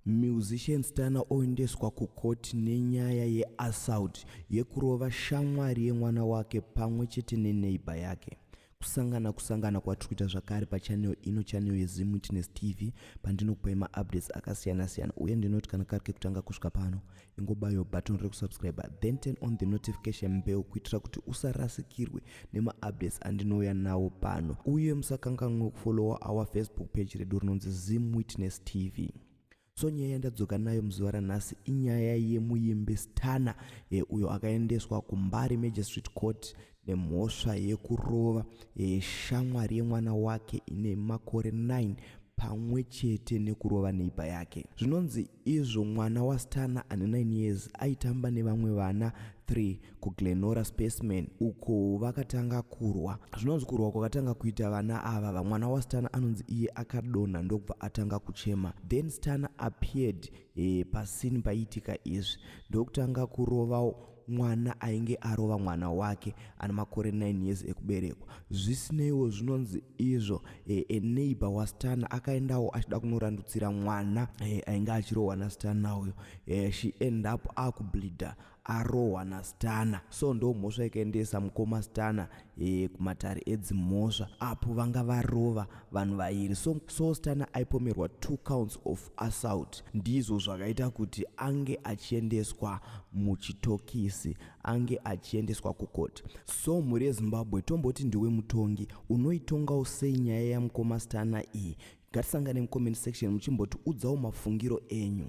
Musician Stunner oendeswa kucourt nenyaya yeassault yekurova shamwari yemwana wake pamwe chete neneighbor yake. Kusangana kusangana kwatiri kuita zvakare pachannel ino channel yeZim Witness TV pandinokupai maupdates akasiyana siyana uye ndinoti kana kari kekutanga kusvika pano ingobayo button rekusubscribe then turn on the notification bell kuitira kuti usarasikirwe nemaupdates andinouya nawo pano uye musakanganwe kufollowa our facebook page redu rinonzi zim witness tv so nyaya yandadzoka nayo muzuva ranhasi inyaya yemuimbi stana e, uyo akaendeswa kumbari magistrate court nemhosva yekurova shamwari yemwana wake ine makore 9 pamwe chete nekurova neiba yake zvinonzi izvo mwana wastana ane 9 years aitamba nevamwe vana 3 kuglenora spaceman uko vakatanga kurwa zvinonzi kurwa kwakatanga kuita vana ava vamwana wastana anonzi iye akadonha ndokubva atanga kuchema then stana appeared e, pasini paiitika izvi ndokutanga kurovawo mwana ainge arova mwana wake ane makore 9 years ekuberekwa zvisineiwo zvinonzi izvo e, e neighbor wastana akaendawo achida kunorandutsira mwana e, ainge achirohwa nastana uyo e, she end up akubleeder arohwa nastana so ndo mhosva ikaendesa mukoma stana e, kumatare edzimhosva apo vanga varova vanhu vairi so, so stana aipomerwa two counts of assault ndizvo zvakaita kuti ange achiendeswa muchitokisi ange achiendeswa kukoti so mhuri yezimbabwe tomboti ndiwe mutongi unoitongawo sei nyaya yamukoma stana iyi Ngatisangane mucomment section muchimboti udzawo mafungiro enyu.